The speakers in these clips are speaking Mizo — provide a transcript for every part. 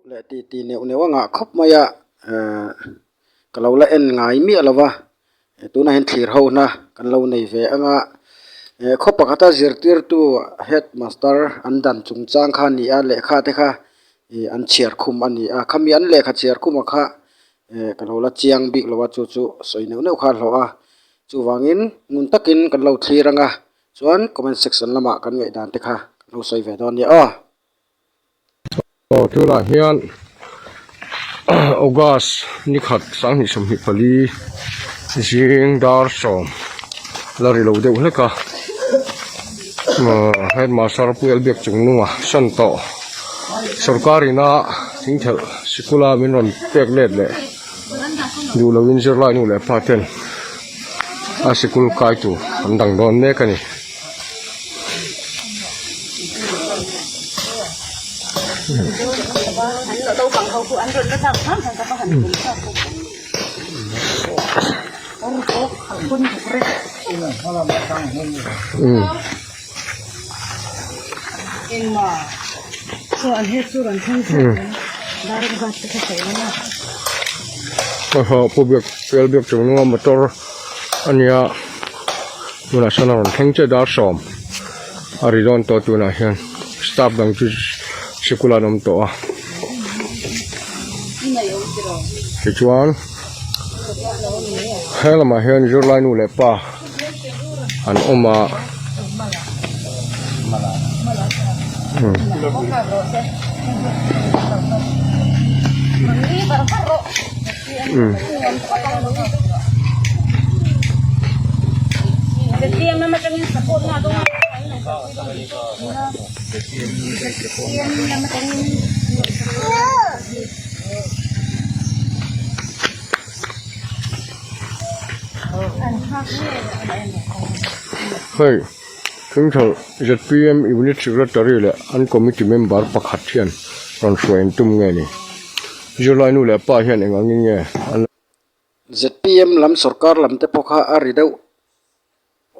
Leh ti ti neuh neuh a ngah khawp mai a ehh ka lo la en ngai miah lo va tunah hian thlir ho nâ kan lo nei ve ang a ehh khaw pakhata zirtirtu headmaster an dan chung chang kha a ni a lehkha te kha ihh an chhiar khum a ni a khami an lehkha chhiar khuma kha-- ehh kan haw la chiang bik lo a chu chu sawi neuh neuh kha a hlawh a chuvangin ngun takin kan lo thlir anga chuan comment section lamah kan ngaihdan te kha kan lo sawi ve dawn a ni aw. Aw tunah hian August ni khat sang hnih sawmhnih pali zing dar sawm la ri lo deuh hlek a. Headmaster Pu Elbiak Chungnunga hran tawh sawrkar ina thing khelh sikul a min rawn pek let leh duh lo in zirlai nu leh pa ten a sikul kai tur an dang dawn mek a ni. pu biak fel biak chung lunga motor a nia. Tunah sawn a rawn thleng che dar sawm a ri dawn tawh tunah hian staff dang chu sikul ah an awm tawh a, tichuan he lamah hian zirlai nu leh pa an awm a, umm. Hei Hlingthar zpm unit secretary leh an committee member pakhat hian rawn hruai an tum nge ni. Zirlainu leh a pa hian eng ang nge an la. Zpm lam sorkar lam te pawh kha a ri deuh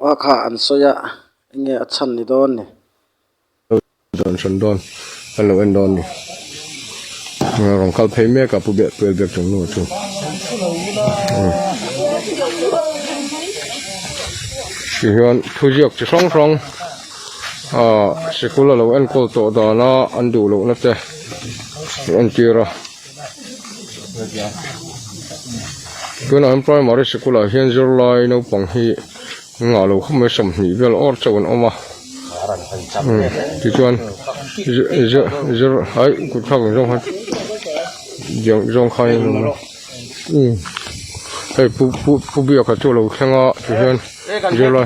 a kha an sawi a, eng nge a chhan ni dawn ni? Lo inchhan dawn, an lo en dawn ni. Rawn kal phei mek a pu beh puel bek chung nu chu. Ti chuan thu ziak chi hrang hrang. Ahh sikul a lo enkawl tawh dan a an duh loh na te a entir a tunah hian primary sikul ah hian zirlai naupang hi an ngah lo khawp mai sawmhnih vel awr chauh an awm a tichuan zir ai kut thak ang zawng khan diang zawng khan in awm hei pu pu pu biak ah chu a lo thleng a chu hian zirlai.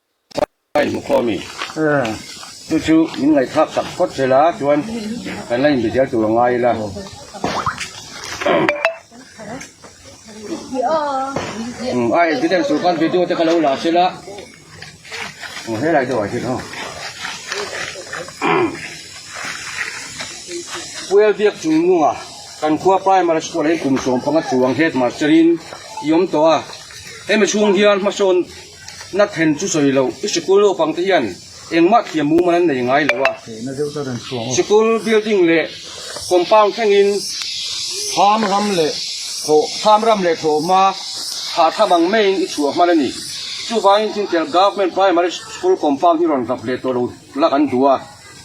Ka inhmu khawm i, chu chu min ngaihthak tak phawt zel a, chuan kan la inbe zel tur a ngai ila. I evidence tur khan video te ka lo la sela, helai deuh ah hian aw. Puial biak chung nunga kan khua primary school ah hian kum sawm panga chuang headmaster in i awm tawh a, hemi chhung hian hmasawn. Na then chu sawi lo, i sikul naupangte hian engmah thiam mumal an nei ngai lo a, sikul building leh compound thlengin tham ram leh thaw tham ram leh thaw hma hahthlap ang maiin i chhuah hman a ni. Chuvangin Thingtel Government Primary School compound hi rawn zap leh tawh lo la kan duh a,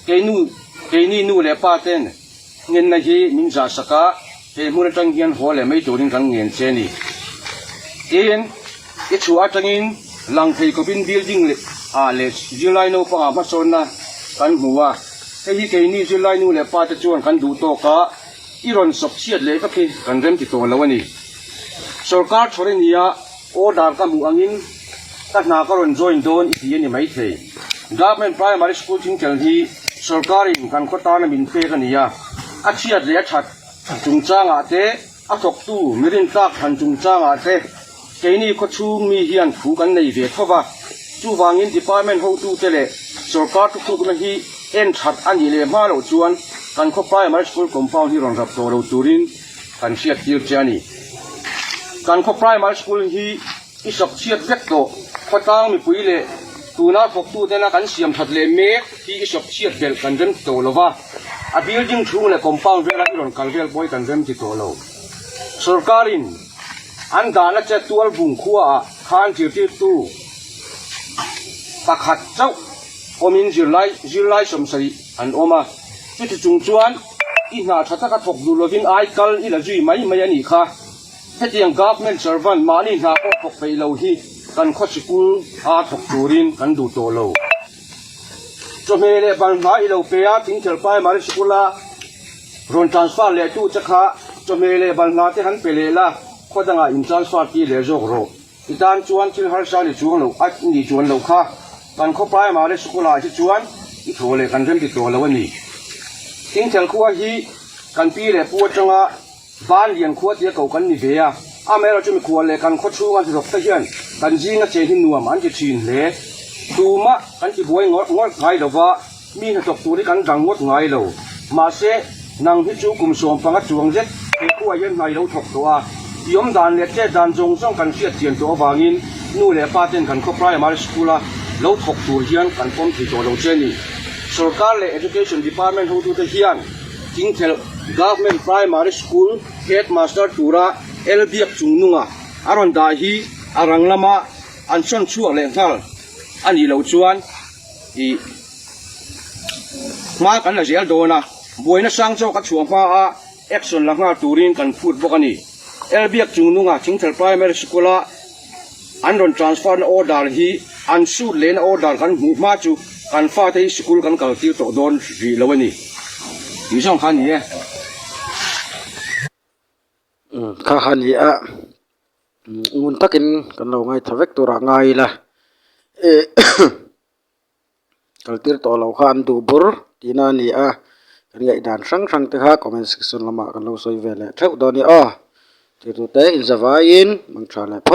keinu keini nu leh pa ten Ngenna hi min zah sak a, he hmun atang hian haw leh mai turin kan ngen che ni. Tin, i chhuah atangin lang thei kawpin building leh ah leh zirlai naupangah hmasawnna kan hmu a, hei hi keini zirlai nu leh pate chuan kan duh tawk a, i rawn sawp chhiat leh vek hi kan rem ti tawh lo a ni. Sorkar chhawrenia Aw dar ka hmuh angin ka hna ka rawn join dawn i tih a ni maithei. Government Primary School Thingtel hi sorkarin kan khaw tan a min pek a ni a, a chhiat leh a that chungchangah te, a thawktu mi rintlak than chungchangah te keini khaw chhung mi hian thu kan nei ve thova. Chuvangin department hotu te leh sorkar thuthukna hi en that a nih leh hma loh chuan kan khaw primary school compound hi rawn rap tawh lo turin Kan hriat tir che a ni. Kan khaw Primary School hi i sawpchhiat vek tawh, khawtlang mipui leh tuna thawktu tena kan siam that leh mek hi i sawpchhiat belh kan rem ti tawh lo va, a building chhung leh compound vela i rawn kal vel pawi kan rem ti tawh lo. Sorkarin an dahna che Tualbung khuaah khan zirtirtu pakhat chauh awmin zirlai zirlai sawmsarih an awm a, chuti chung chuan, I hna tha taka thawk duh lovin ai kal i la zui mai mai a nih kha. Hetiang government servant mahni hna pawh thawk peih lo hi kan khawchhi kung a thawk turin kan duh tawh lo. Chawhmeh leh ban hma i lo pe a Tingthel Primary School-a rawn transfer leh tu che kha chawhmeh leh ban hma te han pe leh la, khaw dangah in transfer ti leh zawk rawh. I tan chuan thil harsa ni chuang lo a nih chuan lo kha, kan khawpai mah le school ah hi chuan i thaw leh kan remti tawh lo a ni. Tin Khelkhua hi kan pi leh pu atanga Vanlian khua tia ko kan ni ve a, amaherawh chu mikhua leh kan khawchhung a hlawkte hian kan zinga che hi nuam an ti thin hle. Tumah kan tibuai ngawlh ngawlh ngai lova Mi hnathawk tur hi kan dang ngawt ngai lo. Mahse, nang hi chu kum sawm panga chuang zet he khuaah hian hnai lo thawk tawh a, tiawm dan leh chet dan zawng zawng kan hriatchian tawh avangin nu leh pa ten kan khaw Primary School a lo thawk tur hian kan pawm thei tawh lo che ni. Sorkar leh Education Department hotute hian Thingthel Government Primary School Headmaster tura el biak chung nunga a rawn dah hi a rang lama an sawn chhuak leh nghal a nih loh chuan, I hma kan la zial dawn a, buaina sang zawk a chhuah hma a action la nghal turin kan phut bawk a ni. Elbiak Chungnunga Thingthel Primary School a an rawn transfer na order hi an suit lehna order kan hmuh hma chu kan fate hi sikul kan kal tir tawh dawn rih lo a ni tih zawng kha a ni e. Kha a ni a. ngun takin kan lo ngaitha vek turah ngai ila eh kaltir tawh lo kha an duh bur tihna a ni a kan ngaihdan hrang hrang te kha comment section lamah kan lo sawi ve leh theuh dawn nia aw thirtute inzavaiin mangtha leh phawt.